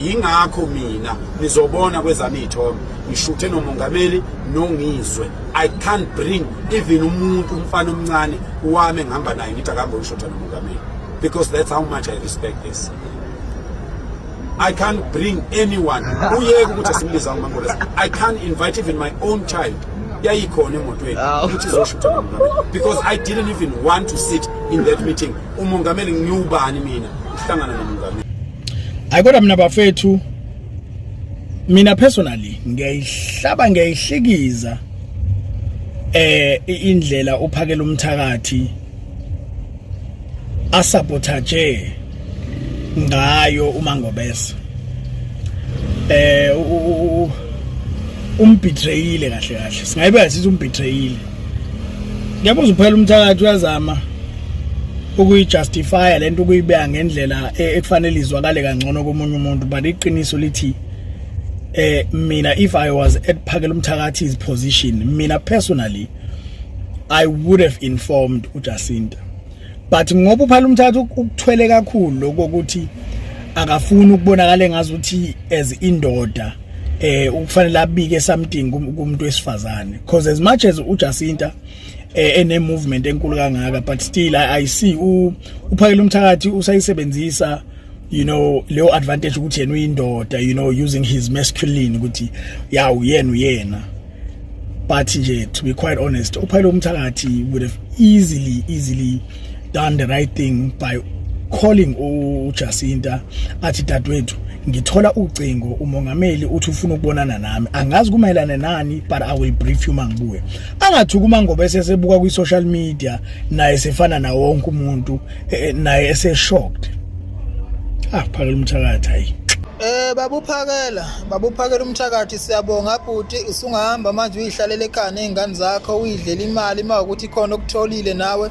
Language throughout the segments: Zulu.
yingakho mina nizobona kwezami iy'thombe ngishuthe nomongameli nongizwe i can't bring even umuntu umfana omncane wami engihamba naye ngithi akambe uyishutha nomongameli because that's how much i respect this I can't bring anyone uyeke ukuthi simbiza uMangolesi I can't invite even my own child yayikhona emotweni ah. ukuthi izoshutha nomongameli because I didn't even want to sit in that meeting umongameli ngiwubani mina uhlangana nomongameli hayi kodwa mina bafethu mina personally ngiyayihlaba ngiyayihlikiza eh indlela uphakela umthakathi asabotage ngayo uma ngobese eh umbithreyile kahle kahle singayibeka sithi umbitreyile Ngiyabuza uphela umthakathi uyazama ukuyijustifya lento ukuyibeka ngendlela e, ekufanele izwakale kangcono komunye umuntu but iqiniso lithi eh mina if i was at phakela umthakathi's position mina personally i would have informed uJacinta but ngoba uphala umthatha ukuthwele kakhulu lokuthi akafuni ukubonakala engazuthi as indoda eh ukufanele abike something kumuntu wesifazane because as much as uJacinta eh ene movement enkulu kangaka but still I, I see u uphakele umthakathi usayisebenzisa you know leyo advantage ukuthi yena uyindoda you know using his masculine ukuthi yawu yena uyena but nje to be quite honest uphayile umthakathi would have easily easily done the right thing by calling uJacinta athi dadwethu ngithola ucingo umongameli uthi ufuna ukubonana nami angazi kumayelana nani but i will brief you mangibuye angathi kuma ngoba esesebuka kwi social media naye sefana na wonke umuntu eh, eh, naye ese shocked ah phakela umthakathi hayi eh babuphakela Babuphakela umthakathi siyabonga bhuti usungahamba manje uyihlalele ekhaya nezingane zakho uyidlela imali uma ukuthi khona okutholile nawe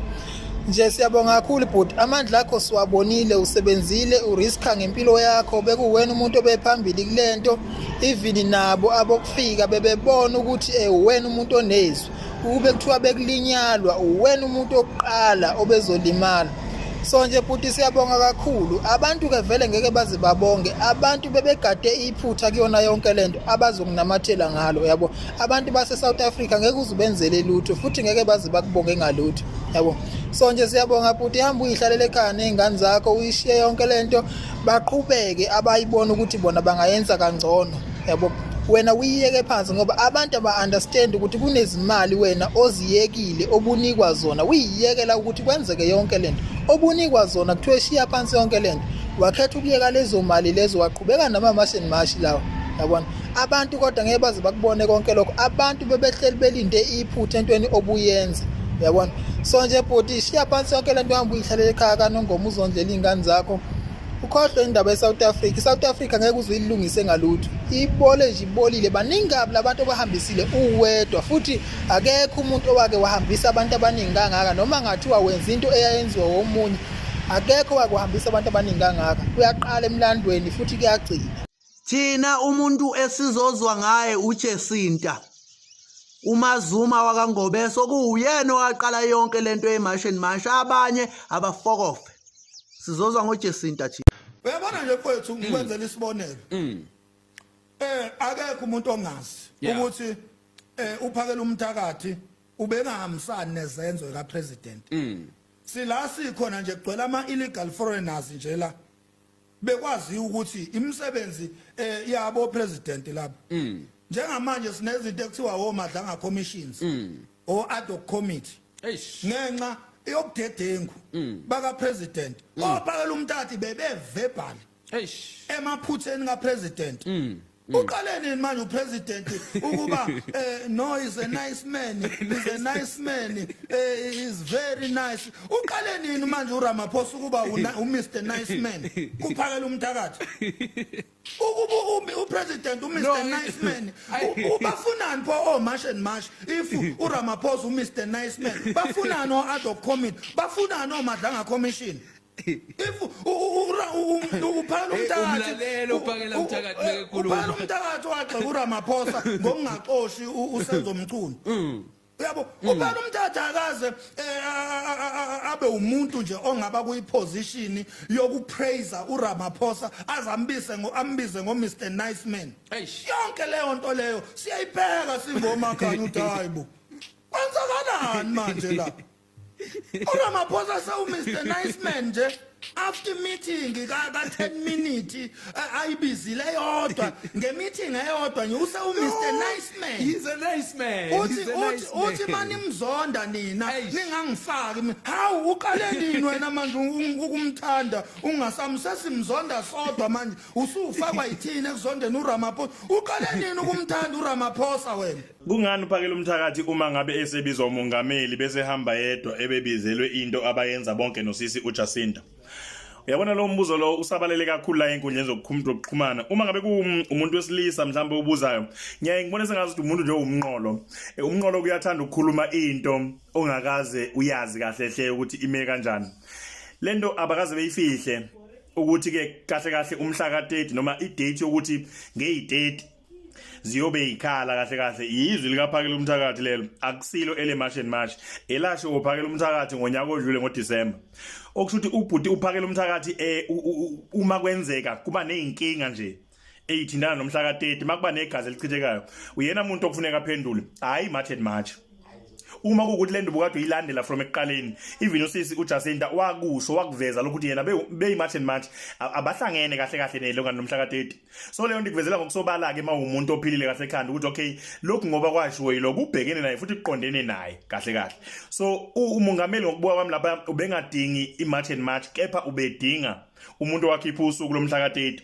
nje siyabonga kakhulu bhuti amandla akho siwabonile usebenzile uriska ngempilo yakho bekuwena umuntu obephambili kulento even nabo abokufika bebebona ukuthi eh uwena umuntu onezwi ukube kuthiwa bekulinyalwa uwena umuntu oqala obezolimala so nje bhuti siyabonga kakhulu abantu ke vele ngeke baze babonge abantu bebegade iphutha kuyona yonke lento abazokunamathela ngalo yabo abantu base South Africa ngeke uzubenzele lutho futhi ngeke baze bakubonge ngalutho yabo so nje siyabonga bhuti hamba uyihlalele ekhaya nezingane zakho uyishiye yonke lento baqhubeke abayibona ukuthi bona bangayenza kangcono yabo wena uyiyeke phansi ngoba abantu aba-understand ukuthi kunezimali wena oziyekile obunikwa zona uyiyekela ukuthi kwenzeke yonke le nto obunikwa zona kuthiwa eshiya phansi yonke le nto wakhetha ukuyeka lezo mali lezo waqhubeka namamashini mashi lawa yabona abantu kodwa ngeke baze bakubone konke lokho abantu bebehleli belinde iphutha entweni obuyenza yabona so nje bhuti shiya phansi yonke le nto uhamba uyihlalele ekhaya kanongoma uzondlela iy'ngane zakho ukhohlwe indaba ye-south africa i-south africa ngeke uze uyilungise ngalutho ibole nje ibolile baningi kabi labantu obahambisile uwedwa futhi akekho umuntu owake wahambisa abantu abaningi kangaka noma ngathiwa wenza into eyayenziwa womunye akekho wake wahambisa abantu abaningi kangaka kuyaqala emlandweni futhi kuyagcina thina umuntu esizozwa ngaye uJesinta uMazuma wakangobeso kuwuyena owaqala yonke lento yemashini masha abanye abafokofe sizozwa ngoJesinta thina uyabona nje kwethu mm. ngikwenzela isibonelo mm. eh akekho umuntu ongazi ukuthi eh uphakela umthakathi ubengahambisani nezenzo ka president mm. sila sikhona nje kugcwele ama illegal foreigners nje la bekwaziwa ukuthi imisebenzi eh, yabo president labo mm. njengamanje sinezinto ekuthiwa womadlanga commissions mm. o ad hoc committee ngenxa yobudedengu mm. baka president ophakela umtati bebe verbal emaphutheni ka president Mm. uqale nini manje upresident ukuba eh, no is a nice man is a nice man eh, is very nice uqale nini manje uramaphosa ukuba umr nice man kuphakela umthakathi ukuba upresident umr nice man ubafunani pho o oh, marsh and marsh if uramaphosa umr nice man bafunani o-adhoc commit bafunani omadlanga commission if uphana umthakathi uphakela umthakathi bekekhuluma uphana umthakathi wagxa kuRamaphosa ngokungaxoshi usenzo mchunu mm. uyabo mm. ubani umthatha akaze eh, abe umuntu nje ongaba kuyiposition yokupraise uRamaphosa azambise ngoambize ngo Mr Nice Man yonke leyo nto leyo siyayipheka singoma khanya uthi hayibo kwenzakalani manje la uramaphosa sewumr nice man nje after meeting ka 10 minute ayibizile yodwa ngemeeting eyodwa nje use u Mr nice man he's a nice man uthi uthi uthi mani mzonda nina ningangifaki mina hawu uqale nini wena manje ukumthanda ungasamsesi mzonda sodwa manje usufakwa yithini ekuzondeni uRamaphosa uqale nini ukumthanda uRamaphosa wena Kungani uphakela umthakathi uma ngabe esebizwa umongameli bese hamba yedwa ebebizelwe into abayenza bonke nosisi uJacinta? Uyabona lo mbuzo lo usabalele kakhulu la enkundleni zokuxhumana. Uma ngabe kuumuntu wesilisa mhlawumbe ubuzayo, ngiyaye ngibone sengazi ukuthi umuntu nje umnqolo. Eh, umnqolo kuyathanda ukukhuluma into ongakaze uyazi kahle hle ukuthi ime kanjani. Lento abakaze beyifihle ukuthi ke kahle kahle umhla ka 30 noma i date yokuthi ngeyi 30 ziyobe ikhala kahle kahle yizwi likaphakela umthakathi lelo akusilo ele march and march elasho ngophakela umthakathi ngonyaka odlule ngoDecember okusho ukuthi ubhuti uphakela umthakathi eh uma kwenzeka kuba nezinkinga nje eyithindana nomhla ka30 makuba negazi elichithekayo uyena umuntu okufuneka aphendule hayi march and march uma kukuthi lento bukade uyilandela from ekuqaleni even usisi uJacinta wakusho wakuveza lokuthi yena beyi march and march abahlangene kahle kahle nelongani nomhla ka30 so leyo nto ikuvezela ngokusobala-ke uma uwumuntu ophilile kahle ekhanda ukuthi okay lokhu ngoba kwashiwo yilokhu ubhekene naye futhi kuqondene naye kahle kahle so umongameli ngokubuka kwami lapha ubengadingi i-march and march kepha ubedinga umuntu owakhipha usuku lomhla ka-30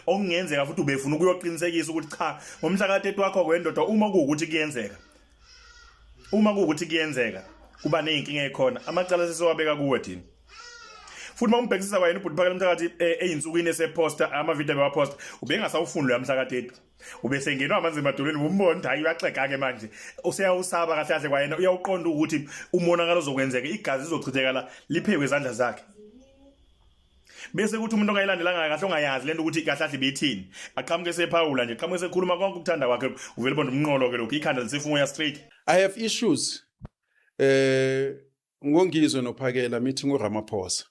okungenzeka futhi ubefuna ukuyoqinisekisa ukuthi cha ngomhla ka-30 wakho kwendoda uma kuwukuthi kuyenzeka uma kuwukuthi kuyenzeka kuba nezinkinga ekhona amacala sesowabeka kuwe thina futhi uma umbhekisisa kwayena ubhuti phakela umthakathi eh, eyinsukwini eseposta amavidiyo bewaposta ubengasawufuni loya mhla ka-30 ubesengenwa amanzi emadolweni umbona ukuthi hayi uyaxega-ke manje useyawusaba kahle kahle kwayena uyawuqonda ukuthi umonakalo ozokwenzeka igazi lizochithekala liphekwe izandla zakhe bese kuthi umuntu ongayilandelanga kahle ongayazi lento ukuthi kahle ahle bethini aqhamuke sephawula nje qhamuke sekhuluma konke ukuthanda kwakhe uvele bonda umnqolo ke lokho ikhanda lisefumoya straight i have issues eh ngongizwe nophakela mithi ngoRamaphosa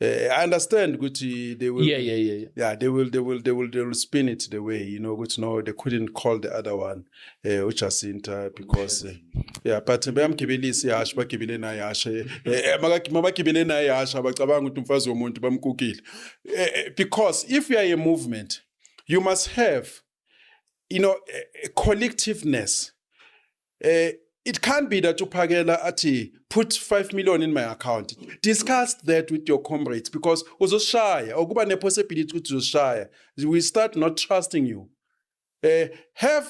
eh, I understand ukuthi they will yeah yeah yeah yeah they will they will they will they will spin it the way you know ukuthi no they couldn't call the other one eh uJacinta because eh, yeah but bayamgibelisa ihasha bagibele naye ihasha eh, eh, mabagibele naye ihasha abacabanga ukuthi umfazi womuntu bamkukile because if you are a movement you must have you know a collectiveness eh it can't be that uphakela athi put 5 million in my account discuss that with your comrades because uzoshaya okuba ne possibility ukuthi uzoshaya we start not trusting you eh have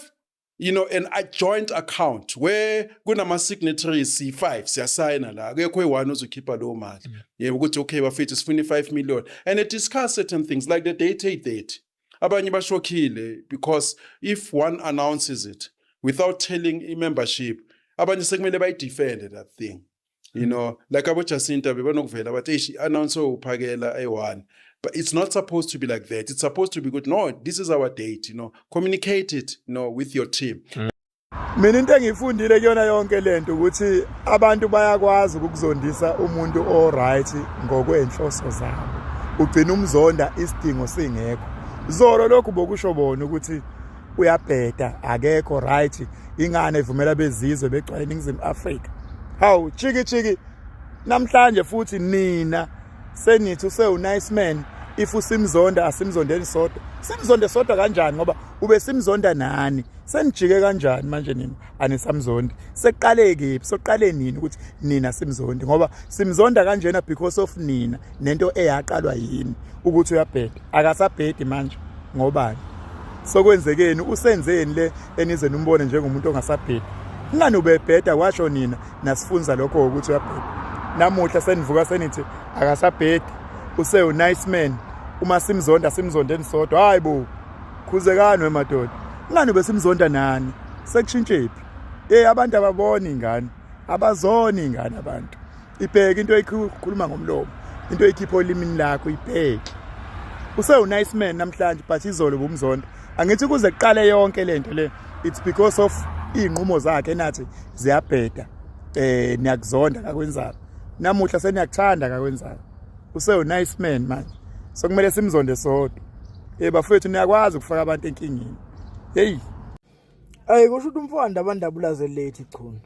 you know an a joint account where kunama signatories si5 siyasayina la akekho eyi1 ozokhipha leyo mali mm. yebo ukuthi okay bafethu sifuna i5 million and it discuss certain things like the date eight date abanye bashokhile because if one announces it without telling i membership abanye sekumele bayidefende that thing you know like abojacinta bebanokuvela bathi eish i-announce uphakela eyi-one but it's not supposed to be like that it's supposed to be good no this is our date you know communicate it you know with your team mm. mina into engiyifundile kuyona yonke le nto ukuthi abantu bayakwazi ukuzondisa umuntu o-right ngokwenhloso zabo ugcina umzonda isidingo singekho zolo lokhu bokusho bona ukuthi uyabheda akekho right ingane evumela bezizwe begcwale iningizimu Africa hawu chiki chiki namhlanje futhi nina senithi usewu nice man if usimzonda asimzondeni sodwa simzonde sodwa kanjani ngoba ube simzonda nani senijike kanjani manje nina anisamzondi seqale kephi soqale nini ukuthi nina simzondi ngoba simzonda kanjena because of nina nento eyaqalwa yini ukuthi uyabheda akasabhedi manje ngobani sokwenzekeni usenzeni le enize nimbone njengomuntu ongasabhedi ngani ubebheda washo nina nasifunza lokho ukuthi uyabheda namuhla senivuka senithi akasabhedi usewu nice man uma simzonda simzondeni sodwa hayi bo khuzekani wemadoda ngani besimzonda nani sekushintshephi hey abantu ababoni ingane abazoni ingane abantu ibheke into ekhuluma ngomlomo into ekhipha olimini lakho ibheke usewu nice man namhlanje but izolo bumzonda angithi kuze kuqale yonke lento le it's because of izinqumo zakhe nathi ziyabheda eh niyakuzonda kakwenzayo namuhla seniyakuthanda kakwenzayo usewu nice man manje sokumele simzonde sodwa Eh bafethu niyakwazi ukufaka abantu enkingeni. Hey. Ayi kusho ukuthi umfowanda abandabulaze late chunu.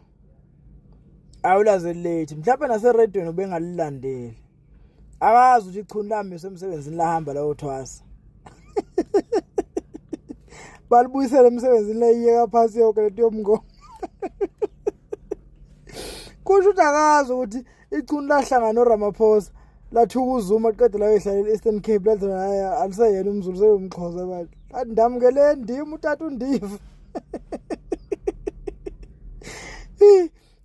Awulaze late. Mhlawumbe nase radio ubengalilandeli. Akazi ukuthi chunu lami semsebenzini lahamba lawo thwasa. Balibuyisela emsebenzini layiyeka phansi yonke lento yomngo. Kusho ukuthi akazi ukuthi ichunu lahlangana noramaphosa lathuka uzuma qede layoyihlalela i-eastern cape lathi hayi aliseyena umzulu seyomxhosa bathi athi ndamukele ndim utata undiva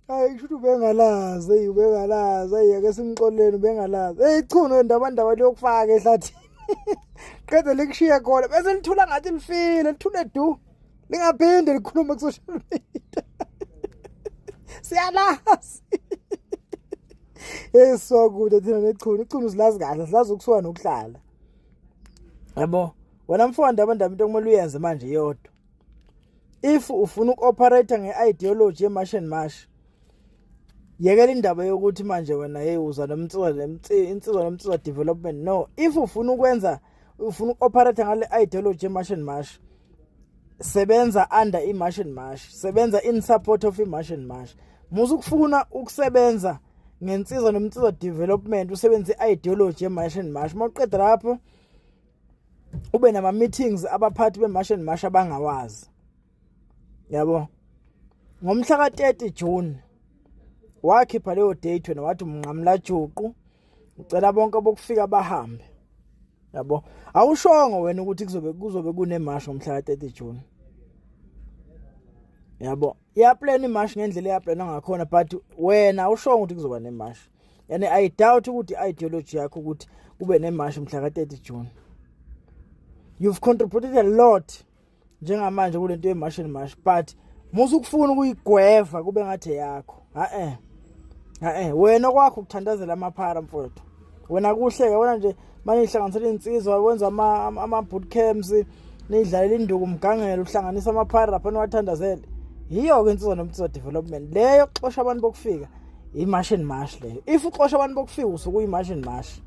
hayi kusho ukuthi ubengalazi eyi ubengalazi eyi ake simxoleleni ubengalazi eyi ichunu endabandaba liyokufaka ehlathini qede likushiye khona bese lithula ngathi lifile lithule du Lingaphinde likhulume ku-social media. Siyalazi. Hey so kude thina nechunu. Ichunu silazi kahle, silazi ukusuka nokuhlala. Yabo, wena mfowandi abantu into okumele uyenze manje yodwa. If ufuna ukuoperate ngeideology yeMarsh and Marsh, yekela indaba yokuthi manje wena hey uza nomtsizwa insizwa nomtsizwa development no if ufuna ukwenza ufuna uku-operate ngale ideology march and march sebenza under i-march and march sebenza in support of i-march and march musa ukufuna ukusebenza ngensiza nomsiza development usebenze i-ideology ye-march and march uma uqeda lapho ube nama-meetings abaphathi be-march and march abangawazi yabo ngomhla ka-30 June wakhipha leyo date wena wathi umnqamla juqu ucela bonke bokufika bahambe yabo awushongo wena ukuthi kuzobe kuzobe kunemashi ngomhla ka-30 June yabo iyaplana imashi ngendlela eyaplana ngakhona but wena awushongo ukuthi kuzoba nemashi yani i doubt ukuthi ideology yakho ukuthi kube nemashi mhla ka-30 June you've contributed a lot njengamanje kule nto yemash and mash but musa ukufuna ukuyigweva kube ngathi yakho ha-e ha-e wena kwakho ukuthandazela amaphara mfowethu wena kuhleke wena nje manje ihlanganisela iy'nsizwa wenza ama-boot camps nidlalela induku umgangelo uhlanganisa amaphara lapha niwathandazele yiyo-ke insizwa nomtizwa development leyo kuxosha abantu bokufika imash and mash leyo if uxosha abantu bokufika usuku imash and mash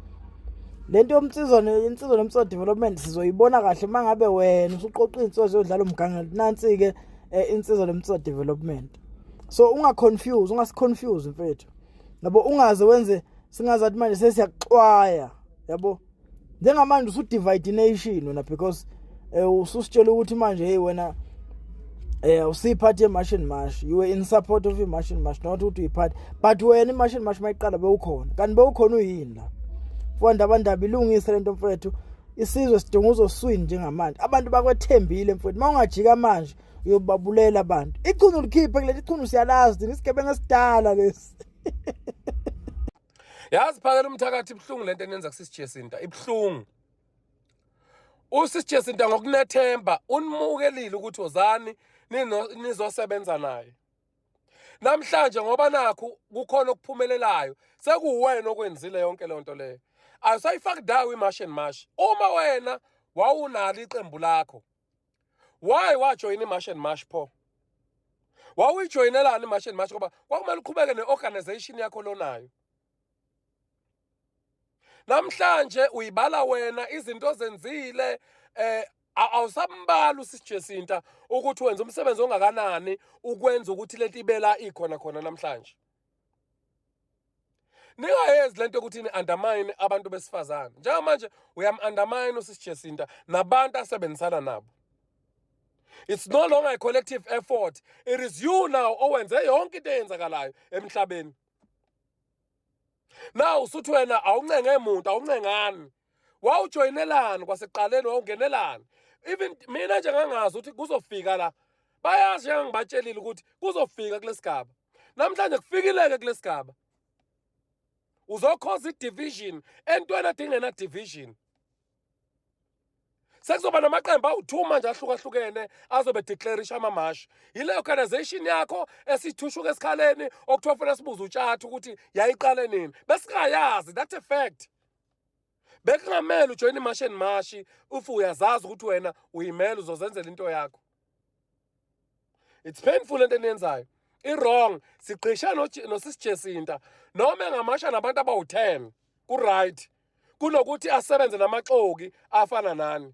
lento yomsizo insizwa nomsizo development sizoyibona kahle mangabe wena usuqoqa insizwa yodlala umganga nansi ke eh, insizwa nomsizo development so unga confuse unga confuse mfethu yabo ungaze wenze singazathi manje sesiyaxwaya yabo njengamanje usudivide ination wena because eh, ususitshela ukuthi manje hey wena eh usiphathi emashini mash you were in support of imashini mash not ukuthi uyiphathi but wena imashini mash mayiqala bewukhona kanti bewukhona uyini la mfowethu abandaba ilungise lento mfowethu isizwe sidinga uzoswini njengamanje abantu bakwethembile mfowethu uma ungajika manje uyobabulela abantu ichunu likhiphe kuleli ichunu siyalazi thina isigebengu esidala lesi yazi phakela umthakathi ibuhlungu lento enenza kusisi Jacinta ibuhlungu usisi Jacinta ngokunethemba unimukelile ukuthi ozani nizosebenza naye namhlanje ngoba nakho kukhona okuphumelelayo sekuwena okwenzile yonke lonto leyo ayisayifaki dawo imash and mash uma wena wawunalo iqembu lakho why wajoyina imarsh and marsh pho wawuyijoyinelani imarsh and marsh ngoba kwakumele uqhubeke ne-organization yakho lonayo namhlanje uyibala wena izinto ozenzile eh awusambali usisijesinta ukuthi wenza umsebenzi ongakanani ukwenza ukuthi lentibela ikhona khona namhlanje ningayenzi lento ukuthi ni undermine abantu besifazane njengamanje uyam undermine usisijesinta nabantu asebenzisana nabo it's no longer a collective effort it is you now owenze yonke into eyenzakalayo emhlabeni now usuthi wena awuncenge muntu awuncengani wawujoyinelani kwasekuqaleni wawungenelani even mina nje ngangazi ukuthi kuzofika la bayazi njengangibatshelile ukuthi kuzofika kulesigaba namhlanje kufikileke kulesigaba uzokhoza idivision entweni adingena division sekuzoba namaqembu awu-two manje ahlukahlukene azobe declarisha amamashi yile organisation yakho esithushuka esikhaleni okuthiwa funa sibuze utshatha ukuthi yayiqale nini besingayazi that's a fact bekungamele ujoyine imashi and mashi if uyazazi ukuthi wena uyimele uzozenzela into yakho it's painful into eniyenzayo i-wrong sigqishe nosisijesinta noma engamasha nabantu abawu-ten ku-right kunokuthi asebenze namaxoki afana nani